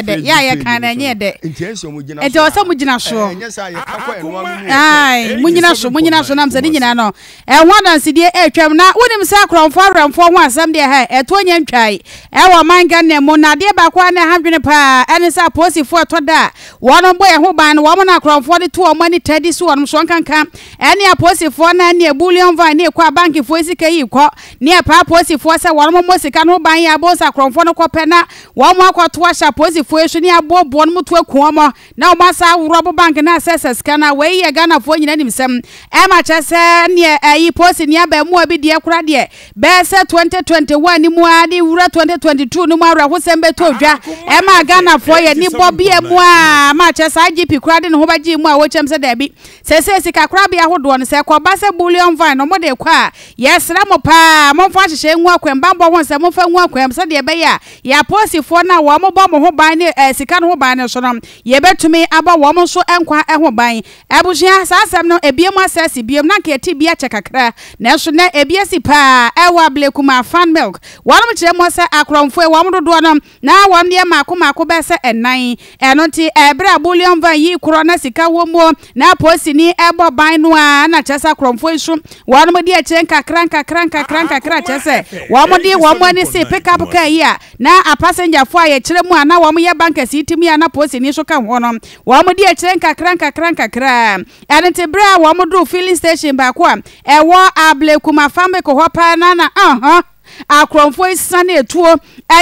dɛ yɛ a yɛka no ɛnyɛ dɛ nti ɛsɛ ɔmo gyina so nti ɔsɛ ɔmo gyina so ɛnyɛ sɛ yɛ kakɔ ɛno ano mu ɛɛ mo nyina so mo nyina so nam sɛ ne nyinaa no ɛho adansedie ɛretwam na wonim sɛ akorɔmfoɔ awerɛmfoɔ ho asɛm deɛ ha ɛtoɔ nyɛ ntwae ɛwɔ ɔman Ghana mu na adeɛ baako a na ɛha dwene paa ɛne sɛ apolisifoɔ ɛtɔ da a wɔn bɔ yɛn ho ban no wɔn na akorɔmfoɔ de to wɔn ani taa di so wɔn so nkanka ɛne apolisifoɔ na ɛne bullion van ne ɛkɔ abankifoɔ sika yi kɔ ne ɛpaa apolisifoɔ sɛ wɔn mmɔ sika no ho ban yɛ abɔ sɛ akorɔmfoɔ no kɔpɛ na Wɔn akɔ to ahyɛ apolisifo yi so ne aboɔboɔ no mo to aku wɔn na wɔn asan aworɔ abo bank no asɛ sɛ sika no a wei yɛ Ghanafoɔ nyina nim sɛm ɛma kyerɛ sɛ neɛ ɛyi polisini abɛɛmoa bi deɛ kora deɛ bɛyɛ sɛ 2021 no mu ara de wura 2022 no mu awerɛhosɛm bɛtɔ dwa ɛma Ghanafoɔ yɛ ani bɔ bia mu a ma kyerɛ sɛ IGP koraa de ne ho bɛgyee mu a wɔkyɛm sɛ daabi Seesei sikakorabea hodoɔ no, sɛ ɛkɔba sɛ bullion vine na wɔde rekɔ a, yɛsrɛ mo pa ara, momfa nhyehyɛe ngu akwan mu, bammɔ ho nsɛm momfa ngu akwan mu, sɛdeɛ ɛbɛyɛ a yɛn apolisifoɔ no a wɔbɔ mo ho ban ne sika no ho ban no so no, yɛbɛtumi abɔ wɔn nso nkwa ho ban. Abusua, saa asɛm no, ɛbue mu asɛ asi bio. Na anka ɛte bi akyɛ kakra, nanso nnɛ, ɛbi asi pa ara. Ɛwɔ Ablekumaa, Fan Milk. Wɔnom kyerɛ mu sɛ, Akorɔmfoɔ yi, wɔn dodoɔ no, Ná wɔn deɛ mmaako mmaako bɛyɛ sɛ nnan. Ɛno nti, bere a bullion van yi korɔ na sika wom mu na polisini rebɔ ban no a, na kyerɛ sɛ akorɔmfoɔ yi nso wɔn di akyire nkakra nkakra nkakra nkakra, kyerɛ sɛ wɔde wɔn ani si pick up car yi a na apasengyafo a yɛkyerɛ mu a na wɔyɛ bankɛse yi te mu yi a na polisini nso ka ho no, wɔn di akyire nkakra nkakra nkakra. Ɛno nti, bere a wɔduu filling station baako a ɛwɔ Ablekuma Fambeco hɔ paa no ara na, uh-huh. akorɔmfoɔ yi siane atuo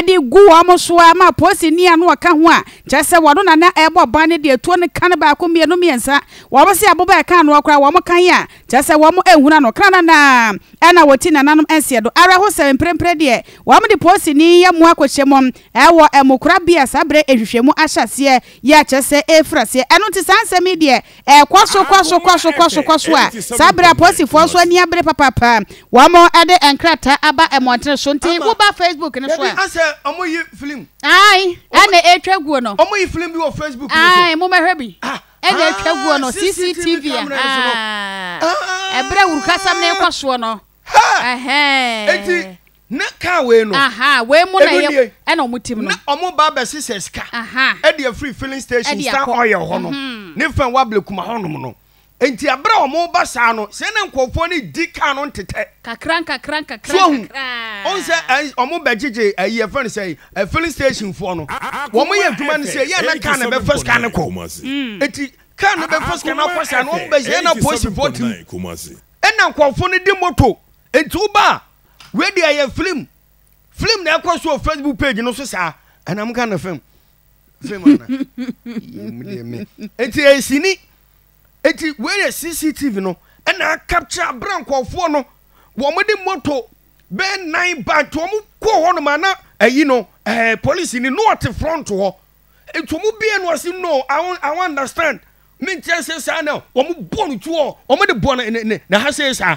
de gu wɔn so a ma polisini a na ɔka ho a kyerɛ sɛ wɔno na na ɛrebɔ ban no de atuo no ka no baako mmienu mmiɛnsa. Wɔn se aboba a ɛka noɔ koraa wɔn kan a kyerɛ sɛ wɔn nhunu ano kra no na ɛna wɔti nananom nseɛ do. Awerɛhosɛm, mprempren deɛ wɔde polisini yi amu akɔhyɛ mu wɔ amukorabea saa berɛ nhwehwɛmu ahyɛaseɛ yi a kyerɛ sɛ ɛrefiri aseɛ. Ɛno nti saa nsɛm yi deɛ Ɛkɔ so kɔ so kɔ so kɔ so kɔ so a saa bere a apolisifoɔ nso ani abere papaapa wɔde nkrataa aba mmɔntene so nti woba Facebook no so a. Dabi asɛ ɔmo yi film. Ae ɛna etwa guo no. Ɔmo yi film bi wɔ Facebook no so. Ae momɛhwɛ bi ɛna etwa guo no CCTV ahaa ɛbrɛ wurukasɛm no kɔ soɔ no ɛhɛɛ. Na car wei no. Ahaa wei mu na ɛyɛ ɛna ɔmo tim no. Na ɔmo ba bɛ sesɛ sika. Ahaa. Ɛde afiri filling station star oil hɔ no ne fɛn wa blekuma hɔ nom no. Nti ɛbrɛ a ɔmo ba saa no sɛ na nkorɔfoɔ no di car no ntetɛ. Kakra nkakra nkakra nkakra. So ɔhu. Ɔn sɛ ɛn ɔmo bɛ gyegye ɛyi yɛ fɛn sɛ ɛ filling station foɔ no. Ɔmo yɛ adwuma no sɛ yɛ na car no bɛ fa sika no kɔ. Nti car no bɛ fa sika no akɔ saa no ɔmo bɛ sɛ yɛ na polisifoɔ tim. Ɛna nkorɔfoɔ no di motor. Enti woba a, wei deɛ ɛyɛ film. Film na ɛkɔ so wɔ Facebook page no so saa. Ɛna mo ka no film. Film ana? Yɛmu deɛ me. Enti ɛyɛ sini. Enti wei yɛ CCTV no ɛna akapkyerɛ abere nkɔɔfoɔ no wɔn de moto bɛɛ nan ba nti wɔn kɔ hɔ nom ana ɛyi no ɛɛ eh, polisi ni no ɔte front hɔ. Nti wɔn bie no ɔsi no I won't, I won't understand. Menkyerɛ sɛ saa na wɔn bɔ no tuo wɔn de bɔ ne ne ne ha sɛ saa.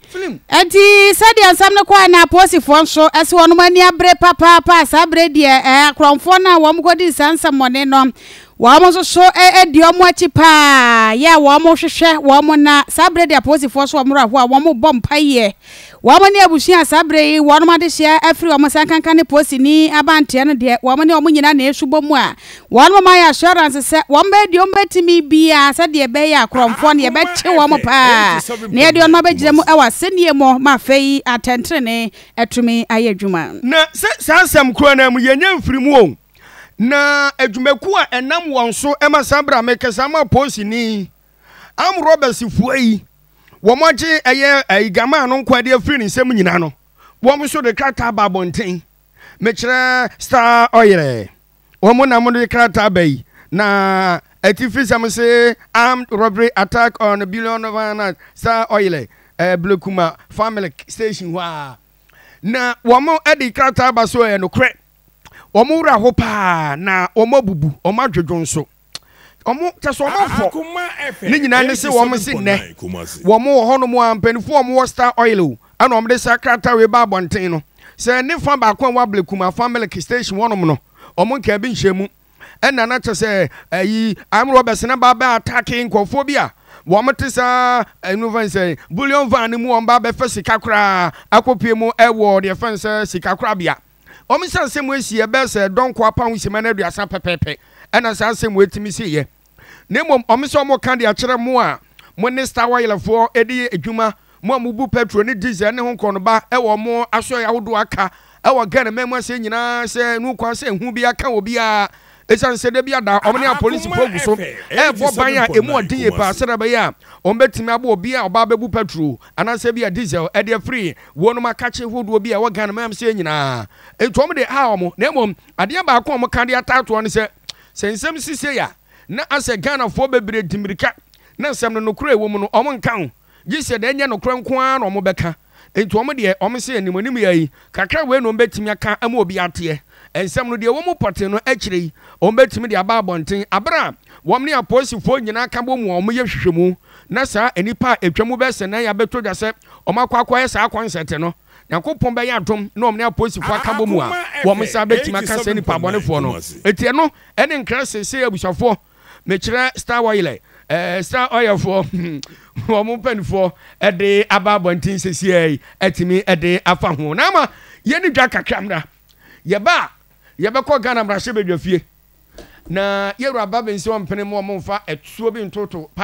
Enti sɛdeɛ nsɛm no kɔɛ no Apoosifoɔ nso ɛse wɔnom ani abere papaapa, saa berɛ deɛ ɛɛ akorɔmfoɔ no a wɔn kɔdii saa nsɛmmɔne no wɔn nso so ɛdi wɔn akyi paa yɛ a wɔn hwehwɛ wɔn na saa berɛ deɛ Apoosifoɔ so wɔn raho a wɔn bɔ mpaeɛ wɔn ne abusua saa berɛ yi wɔnom adehyeɛ afiri wɔn sɛ nkanka ne Poosini abanteɛ no deɛ wɔn ne wɔn nyina na ɛsu bɔ mu a Wɔnom ayɛ assurance sɛ wɔbɛyɛ deɛ wɔbɛtumi biara sɛdeɛ ɛbɛyɛ a korɔmfoɔ no yɛbɛkye wɔn paa na yɛde wɔnom abɛgyina mu wɔ asɛnnie mɔ ma afei atɛntenenee atumi ayɛ adwuma. Na sɛ saa asɛm korɔ no ara mu yɛnyɛ mfiri mu o, na adwumakuo a ɛnam wɔn so ma saa berɛ a mekasa ama apolisini armed robbers foɔ yi wɔn agye ɛyɛ ayi Gamaa no nkoa de afiri ne nsam nyinaa no wɔn nso de krataa aba abɔnten mekyerɛ Star Oil Wɔn na wɔde krataa ba yi. Na atifisɛm se armed robbery attack on billion Ghana's star oil ɛɛ Blekuma Familk station hɔ a. Na wɔn de krataa ba so ɛyɛ nokorɛ. Wɔn werɛ aho paa na wɔn abubu, wɔn adwodwo nso. Ne nyinaa ne se wɔn se nnɛ wɔn wɔ hɔnom a mpanyinfoɔ wɔn wɔ Star Oil o ɛna wɔn de saa krataa wei ba abɔnten no sɛ ne fa baako a wɔ Ablekum afa milk station hɔnom no wɔn nkaa bi nhyɛ mu ɛna na kyɛ sɛ ayi armed robbers na ba bɛ ataake nkurɔfoɔ bi a wɔn te saa ɛnu fɛn sɛ bullion van no mu wɔn ba bɛfɛ sika koraa akɔpie mu ɛwɔ deɛ fɛn sɛ sika korabea. wɔn nsɛmnsɛm mu asiiɛ bɛyɛ sɛ ɛdɔ nkoa pa ho nsɛm ano aduasa pɛpɛɛpɛ na saa nsɛm wei tumi siiɛ, na mmom wɔn sɛ wɔreka de akyerɛ mo a mo ne star ɔyɛlɛfoɔ de yɛ adwuma, mo a mobu pɛtro ne disel ne ho korɔnoba wɔ mo asoɛeɛ ahodoɔ aka wɔ Ghana man mu aseɛ nyinaa sɛ ɛno nkoa sɛ ehu biara ka obiara Esiane sɛ da biara da wɔn ne apolisifo gu so rebɔ ban a emu yɛ den yi paa sɛnea ɛbɛyɛ a wɔbɛtumi abɔ obi a ɔba abɛbu pɛtro anaasɛ bi a diesel de afiri wɔnom akakye hodoɔ bi a ɛwɔ Ghana mam sɛ nyinaa nti wɔn de ha wɔn na mmom adeɛ baako a wɔn ka de ataatoɔ ne sɛ sɛ nsɛm sisei a na asɛ Ghanafoɔ bebree di mmirika na nsɛm no nokorɛ ɛwɔ mu no wɔn nka ho. gye sɛ deɛ ɛnyɛ nokorɛ nko ara na wɔbɛka. Enti wɔn deɛ, wɔn se animuanim yɛ ayi, kakra wei na wɔbɛtumi aka ama obi ateɛ. Nsɛm no deɛ ɛwɔ mu pɔtee no, akyire yi, wɔbɛtumi de aba abɔnten, berɛ a wɔn ne apolisifoɔ nyinaa ka bɔ mu a wɔyɛ nhwehwɛmu, na saa nnipa a ɛtwa mu bɛyɛ sɛ nan yi abɛtɔ dwa sɛ wɔakɔ akɔyɛ saa kɔnsɛte no, Nyankopɔn bɛyɛ adom na wɔn ne apolisifoɔ aka bɔ mu a, wɔn nsa bɛtumi aka saa nnipa bɔnefoɔ no. Enti ɛno ne nkra seesei abusuafoɔ. Mekyerɛ star oil ɛ? Ɛɛ star oil foɔ wɔn mpanimfoɔ de aba abɔnten sɛsiɛ yi atumi de afa ho na ama yɛne dwa kakra mmra yɛba a yɛbɛkɔ Ghana mmarahyɛbadwafie na yɛwura Babinson mpene mu wɔn mfa ɛtuo bi ntoto pa